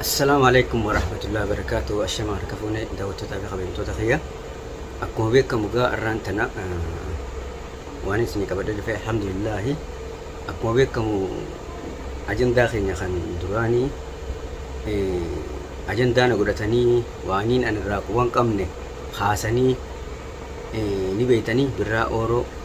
Assalaamu alaikum warahmatullahi wabarakatuh. Ashama harka fuune daawwattootaa fi kabajamtoota kiyya. Akkuma beekamu gaa arraan tana waan isin qabadee dhufe alhamdulillahi. Akkuma beekamu ajandaa keenya kan duraanii ajandaa na godhatanii waaniin anirraa quban qabne haasanii ni beeytanii birraa ooroo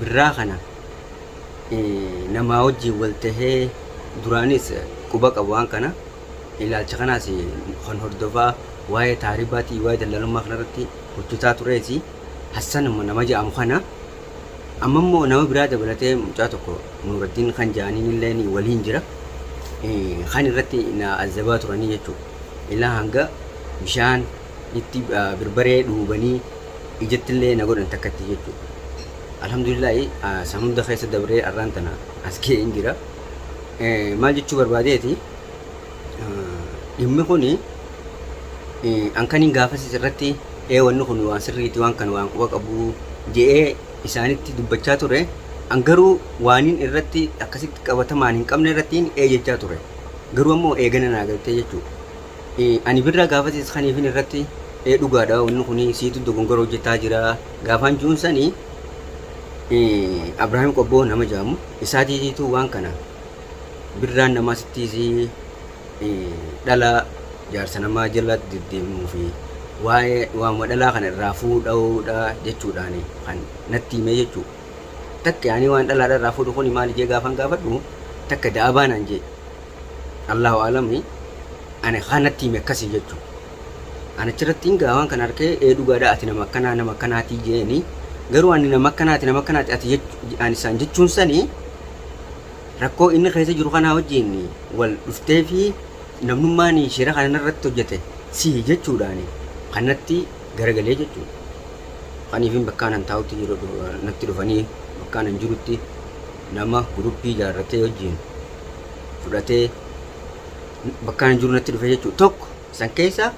birraa kana namaa wajjiin wal tahee duraaniis quba qaba waan kana ilaalcha kanaas kan hordofaa waa'ee taaribaatii waa'ee dallaalummaa kanarratti hojjetaa turees Hassan nama ja'amu kana amma immoo nama biraa dabalatee mucaa tokko Nuuraddiin kan ja'aniin illee waliin jira kan irratti na azzabaa turanii jechuudha ilaa hanga bishaan itti birbaree dhuubanii ijattillee na godhan takkatti jechuudha. Alhamdulillaahi san hunda keessa dabree arraan tana as ga'een jira. Maal jechuu barbaadeeti dhimmi kun ankaniin gaafasiis irratti ee wanni kun waan sirriiti waan kana waan quba qabu je'ee isaanitti dubbachaa ture. An garuu waaniin irratti akkasitti qabatamaan hin qabne irratti ee jechaa ture. Garuu ammoo eegana naa galtee jechuudha. Ani birraa gaafatis kaniifin irratti ee dhugaadha wanni kun siitu dogongora hojjetaa jira gaafaan juun sani Abrahaam Qobboo nama jaamu isaatiitiitu waan kana birraan namaa sittiisii dhala jaarsa namaa jala deddeemuu fi waa'ee waamuma dhalaa kana irraa fuudhaudha jechuudhaan kan natti himee jechuu takka ani waan dhalaadha irraa fuudhu kun maali jee gaafan gaafadhu takka da'abaa naan jee Allahu a'alami ani kaan natti hime akkasi jechu an achirratti ngaa waan kana arkee ee dhugaadha ati nama akkanaa nama akkanaatii jeeni garuu ani nama akkanaati nama akkanaati ati jech- ani isaan jechuun sani rakkoo inni keessa jiru kanaa wajjin wal dhuftee fi namnummaan shira kana irratti hojjete sihi jechuudhaan kanatti garagalee jechuudha. Kaniifin bakkaan an taa'utti jiru natti dhufanii bakkaan an jirutti nama guruppii ijaarratee wajjin fudhatee bakkaan hin jiru natti dhufe jechuudha. Tokko san keessa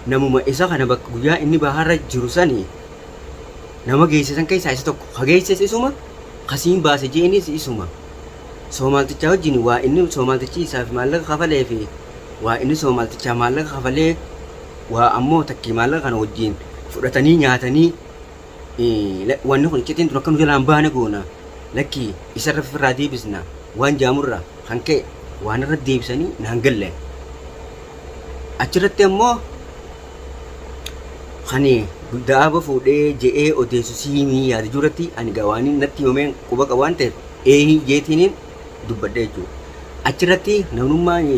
namuma isa kana bakka guyyaa inni baharra jiru sani nama geesse san keessaa isa tokko. Ka geesses isuma kasiin baase je'enis isuma. Soomaaltichaa wajjin waa inni soomaaltichi isaaf maallaqa kafalee fi waa inni soomaaltichaa maallaqa kafalee waa ammoo takkii maallaqa kana wajjin fudhatanii nyaatanii wanni kun iccitiin tun akka nu jalaa hin baane goona, lakkii isa irra fifirraa deebisna waan ja'amu irraa kan ka'e waan irra deebisanii naan galle. Achi irratti ammoo kan da'aaba fuudhee je'ee odeessu siimii yaada jiru irratti ani gaa waan natti himameen quba qabu waan ta'eef eehi jeetiiniin dubbadhe jechuudha. Achi irratti namnummaan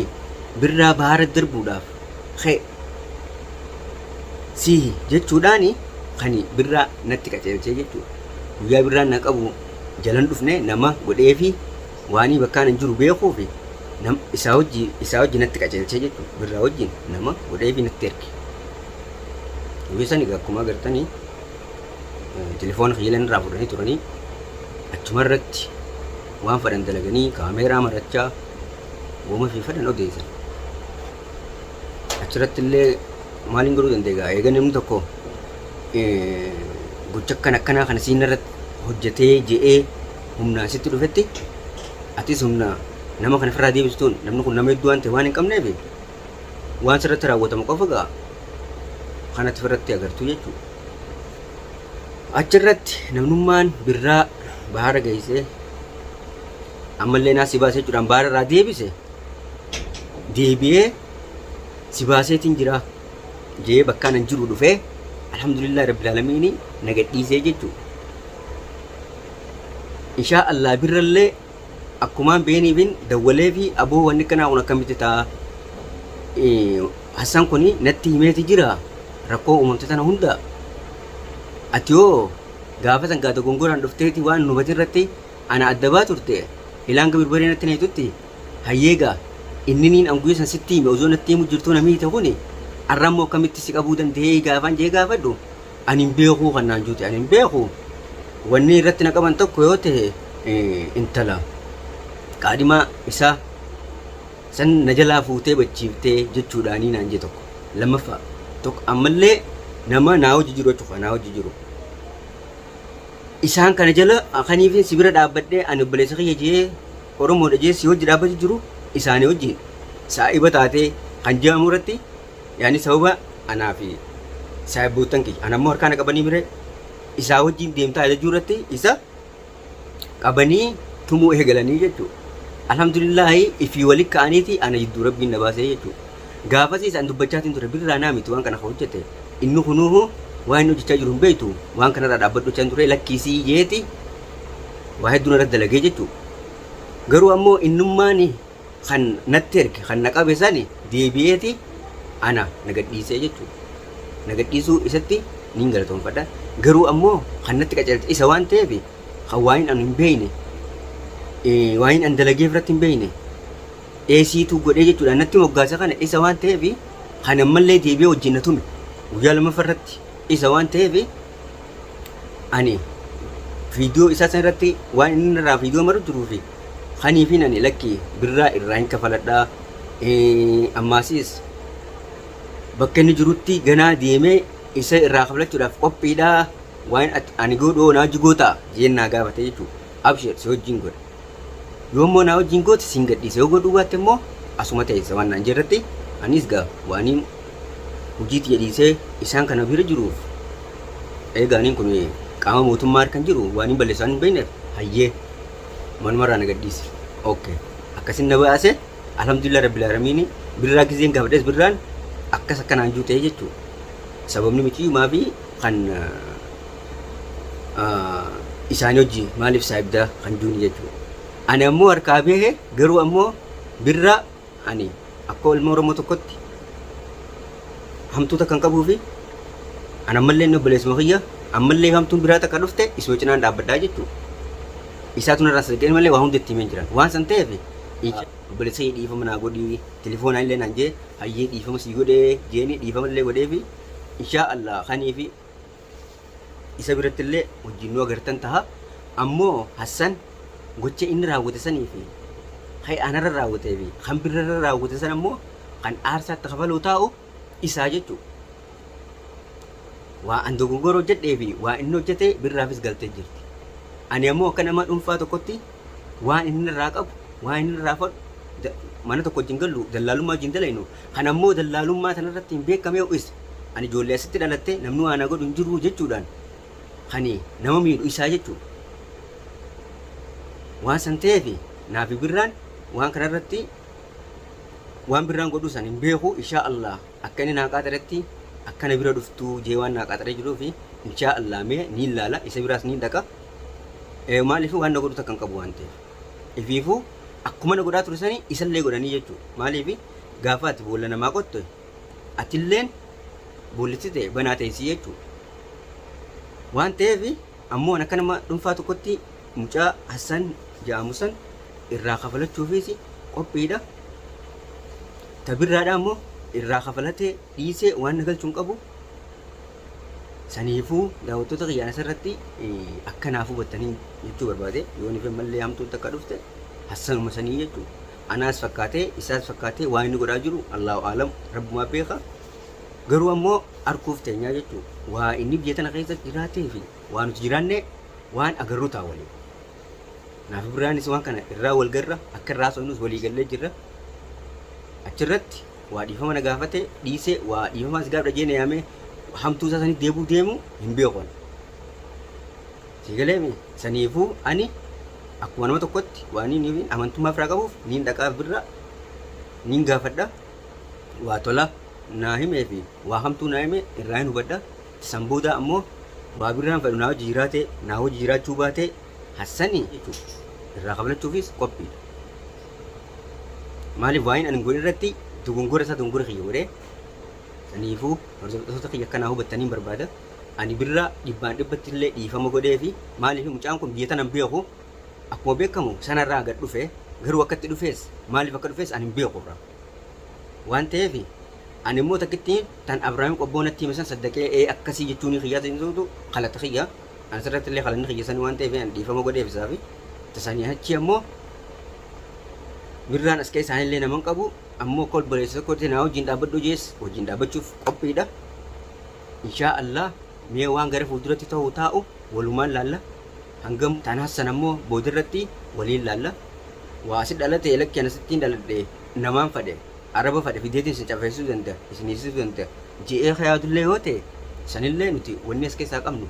birraa bahaara darbuudhaaf ka'e Sii jechuudhaan kan birraa natti qaceelchee jechuudha. Guyyaa birraan na qabu jalan dhufne nama godhee fi waanii bakkaan hin jiru beekuu fi isaa hojii isaa hojii natti qaceelchee jechuudha. Birraa wajjin nama godhee fi natti erge. Guyyaa sani akkuma agartanii telefoona kiyyalan irraa fudhanii turanii achuma irratti waan fadhan dalaganii kaameeraa marachaa woma fi fadhan odeessan. Achirratti illee maaliin godhuu danda'e egaa eega namni tokko gocha akkan akkanaa kana siin irratti hojjetee je'ee humnaan sitti dhufetti atis humna nama kana ofirraa deebisuun namni kun nama hedduu waan ta'e waan hin qabneef waan sirratti raawwatamu qofa ga'a kanatti ofirratti agartuu jechuudha. Achirratti namnummaan birraa baara geessee ammallee naa si baase jechuudhaan baara irraa deebise deebi'ee si baaseetiin jira jee bakkaan an jiru dhufee alhamdulillah rabbil alamiini na gadhiisee jechuudha. Inshaa Allah birrallee akkumaan beeniifin dawwalee fi aboo wanni kanaa kun akkamitti ta'a Hassan kun natti himeeti jira rakkoo uumamte tana hunda ati yoo gaafa san gaata gongoraan dhufteeti waan nubatin irratti ana adda baa turte ilaan gabirbaree natti na hitutti Hayyee gaa inniniin an guyya san sitti hime osoo natti himu jirtuu na miite kuni arra immoo akkamitti si qabuu dandahee gaafaan jee gaafadhu ani hin beekuu kan naan juute ani hin beeku wanni irratti na qaban tokko yoo tahe intala qaadhimaa isaa san na jalaa fuutee bachiiftee jechuudhaanii naan jee tokko lammaffaa tokko ammallee nama naa hojii jiru jechuudha naa hojii jiru isaan kana jala akaniifin si bira dhaabbadhee ani obboleessa kiyya jee Oromoon Ejeessi hojji dhaabbachu jiru isaani wajjiin saa'iba taatee kan je'amu irratti yaani sababa anaa fi saahibboottan kiyya ana immoo harkaa na qabanii miree isaa wajjiin deemtaa ajajuu irratti isa qabanii tumuu eegalanii jechu. Alhamdulillaahi ifii wali ka'aniiti ana jidduu Rabbiin na baasee jechu. Gaafasiis an dubbachaatiin ture birraa naa miti waan kana ka hojjate inni kunuuhu waan inni hojjachaa jiru hin beektu waan kanarraa dhaabbadhu jechaan ture lakkiisii jeeti waa hedduun irratti dalagee jechuu garuu ammoo innummaani kan natti erge kan na qabe sani deebi'eeti ana na gadhiisee jechuu na gadhiisuu isatti niin galatoonfadha garuu ammoo kan natti qaceelche isa waan ta'eef kan waayin anu hin beeyne waayin an dalageef irratti hin beeyne eesiituu godhee jechuudha natti moggaasa kana isa waan ta'eef kan ammallee deebi'ee wajjin na tume guyyaa lammaffaa irratti isa waan ta'eef ani viidiyoo isaa san irratti waan inni irraa viidiyoo maru jiruu fi kaniifiin ani lakki birraa irraa hin kafaladhaa ammaasiis bakka inni jirutti ganaa deemee isa irraa kafalachuudhaaf qophiidhaa waan ani godhu naa jigoo ta'a jeen naa gaafate jechuudha abshir si wajjin godha Yoo immoo naa wajjin goote siin gadhiisa yoo godhuu baatte immoo asuma teessa waan naan jirratti anis gaa waaniin hojii tiyya dhiisee isaan kana bira jiruuf eegaaniin kun qaama mootummaa harkan jiru waaniin balleessaan hin beekneef hayyee manumarraa na gadhiisi okke akkasin na baase alhamdulillah rabbil aalamiini birraa gizeen gaafadhes birraan akkas akkanaan juu ta'ee jechuu sababni miciyumaa fi kan isaanii hojii maaliif saayibdaa kan juuni jechuudha. Ani ammoo harkaa beehe garuu ammoo birraa ani akka ilma Oromoo tokkotti hamtuuta kan qabuu fi an ammallee inni obboleessuma kiyya ammallee hamtuun biraa takka dhufte isuma cinaan dhaabbadhaa jechuudha. Isaatu narraa sadaqeen malee waa hundi itti himeen jiran. Waan san ta'eef obboleessa kiyya dhiifama naa godhii telefoonaa illee naan jee hayyee dhiifama sii godhee jeeni dhiifama illee godhee fi inshaa Allah kanii fi Isa birattillee wajjin nu agartan taha, ammoo Hassan gocha inni raawwate sanii fi khay anarra raawwatee fi khan birrarra raawwate san ammoo khan aarsaa itti kafaluu taa'u isaa jechu'u. Waa an dogongora hojjadhee fi waa inni hojjate birraafis galtee jirti. Ani ammoo akka nama dhunfaa tokkotti waan inni irraa qabu, waan inni irraa fadhu, da, mana tokko wajjin gallu, dallaalummaa wajjin dalaynu, kan ammoo dallaalummaa tana irratti hin beekamee is, ani ijoollee asitti dhalattee namni waa na godhu hin jiru jechuudhaan kan nama miidhu isaa jechuudha. Waan san ta'eef naafi birraan waan kana irratti waan birraan godhuu san hin beeku ishaa Allah. Akka inni naa qaaxaretti akka na bira dhuftu jee waan naa qaaxaree jiruufi inshaa Allah mee niin laala isa biraas niin dhaqa ee maaliif waan na godhu takka hin qabu waan ta'eef ifiifu akkuma na godhaa ture sani isallee godhanii jechuu maaliif gaafa ati boolla namaa qotte atilleen boollitti ta'e banaa teessii jechuu waan ta'eef Ammoo an akka nama dhunfaa tokkotti mucaa Hassan ja'amu san irraa kafalachuufiis qophiidha. Ta birraadhaa ammoo irraa kafalatee dhiisee waan na galchu hin qabu. Saniifuu daawwattoota kiyyaan asirratti akka naaf hubattanii jechuu barbaade yoo nife mallee hamtuun takka dhufte Hassanuma sanii jechuu anaas fakkaatee isaas fakkaatee waan inni godhaa jiru Allahu aalam rabbumaa beeka. Garuu ammoo arkuuf teenyaa jechuun waa inni biyya tana keessa jiraatee fi waa nuti jiraannee waan agarru ta'a waliin. Naafi biraanis waan kana irraa wal garra akka irraa so'inus walii gallee jirra. Achirratti waa dhiifama na gaafate dhiisee waa dhiifama as gaafadha jeena yaamee hamtuu isaa sanitti deebuu deemu hin beekon. Siigalee saniifuu ani akkuma nama tokkotti waan inni amantummaa firaa qabuuf niin dhaqaaf birra niin gaafadha. waa tola naa himee fi waa hamtuu naa hime irraahin hubadha. San boodaa ammoo waa birraan fedhu naa wajji jiraatee naa wajji jiraachuu baatee Hassani jechuun irraa kaflachuufis qophiidha. Maaliif waa'een ani godhe irratti dogongora isaa dogongora kiyya godhee saniifuu hordoftoota kiyya akka naa hubattaniin barbaada. Ani birraa dhibbaan dhibbatti illee dhiifama godhee fi maaliif mucaan kun biyya tanan beeku Akkuma beekamu sana irraa gad dhufe garuu akka itti dhufees maaliif akka dhufees ani hin beeku irraa waan ta'eef ani immoo takkitti tan Abrahaam qobboo natti hime san saddaqee ee akkasii jechuunii kiyyaa ta'insuutu kalata kiyya ani sirratti illee kalanni kiyya sanii waan ta'eef ani dhiifama godheef isaa fi tasanii achi ammoo birraan as ka'e isaanii illee naman qabu ammoo akka obboleessa tokkotti naa wajjin dhaabbadhu jees wajjin dhaabbachuuf qophiidha inshaa Allah mee waan gara fuulduratti ta'u taa'u walumaan laalla hangam taan hassan ammoo boodarratti waliin laalla waa asi dhalatee lakki an asittiin dhaladhe namaan fadhe araba fadhe fideetiin isin cafeessuu danda isin hiisisuu danda je'ee ka yaadullee yoo ta'e sanillee nuti wanni as keessaa qabnu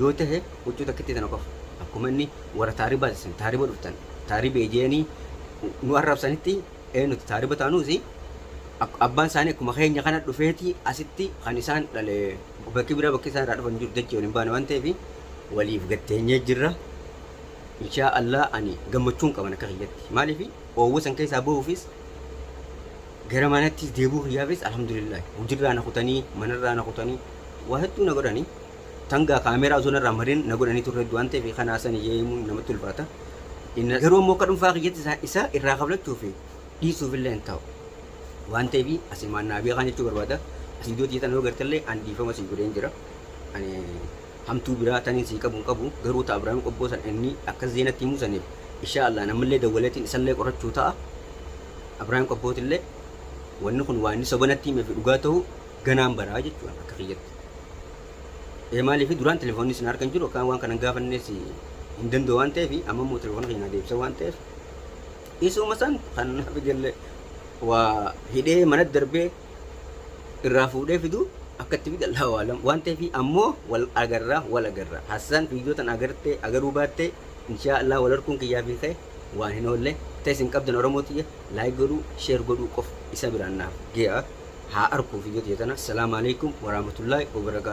yoo tahe huccuu takkittii tana qofa akkuma inni warra taaribaati isin taariba dhuftan taaribee je'anii nu arrabsanitti ee nuti taariba taanuusi ak- abbaan isaanii akkuma keenya kana dhufeeti asitti kan isaan dhale bakki biraa bakki isaan irraa dhufan jiru dachii waliin baane waan ta'eefi waliif gad teenyee jirra inshaa Allah ani gammachuun qaban akka kiyyatti maaliif oowwa san keessaa bahuufis gara manattis deebuu kiyyaafis alhamdulillah hujirraa na kutanii manarraa na kutanii waa hedduu na godhanii tangaa kaameeraa osoo narraa marin na godhanii turre du'aan ta'eef kanaa san ijee himuun namatti ulfaata Inna- garuu ammoo akka dhuunfaa kiyyatti isaa- isaa irraa kaflachuu fi dhiisuuf illee hin ta'u waan ta'eef asimaan naa beekaan jechuu barbaada asii iddoo tiyya tana yoo gartallee ani dhiifama sii godheen jira ani Hamtuu biraa tanin sii qabu hin qabu garuu taa Abrahim qobboo san inni akkas jee natti himuu saniif inshaa Allah an ammallee dawwaleetiin isallee qorachuu ta'a Abrahim qobbootillee wanni kun waa inni soba natti himee fi dhugaa tahuu ganaan baraa jechuu an akka kiyyatti ee maaliif duraan telefoonnis na harka hin jiru akkaan waan kanan gaafannees hin danda'u waan ta'eef amma immoo telefoona kiyya naa deebisa waan ta'eef isuma san kan naaf ijoollee waa hidhee manatti darbee irraa fuudhee fidu akka itti fide Allahu a'alam waan ta'eefi ammoo wal agarra wal agarra Hassan viidiyoo tana agartee agaruu baattee inshaa Allah wal harkuun kiyyaa fi kee waan hin oolle ta'e isin qabdan Oromoo tiyya like godhuu share godhuu qofa isa biraan naaf gee'a haa arkuu viidiyoo tiyya tana Assalamu alaikum warahmatullahi wabarakatuh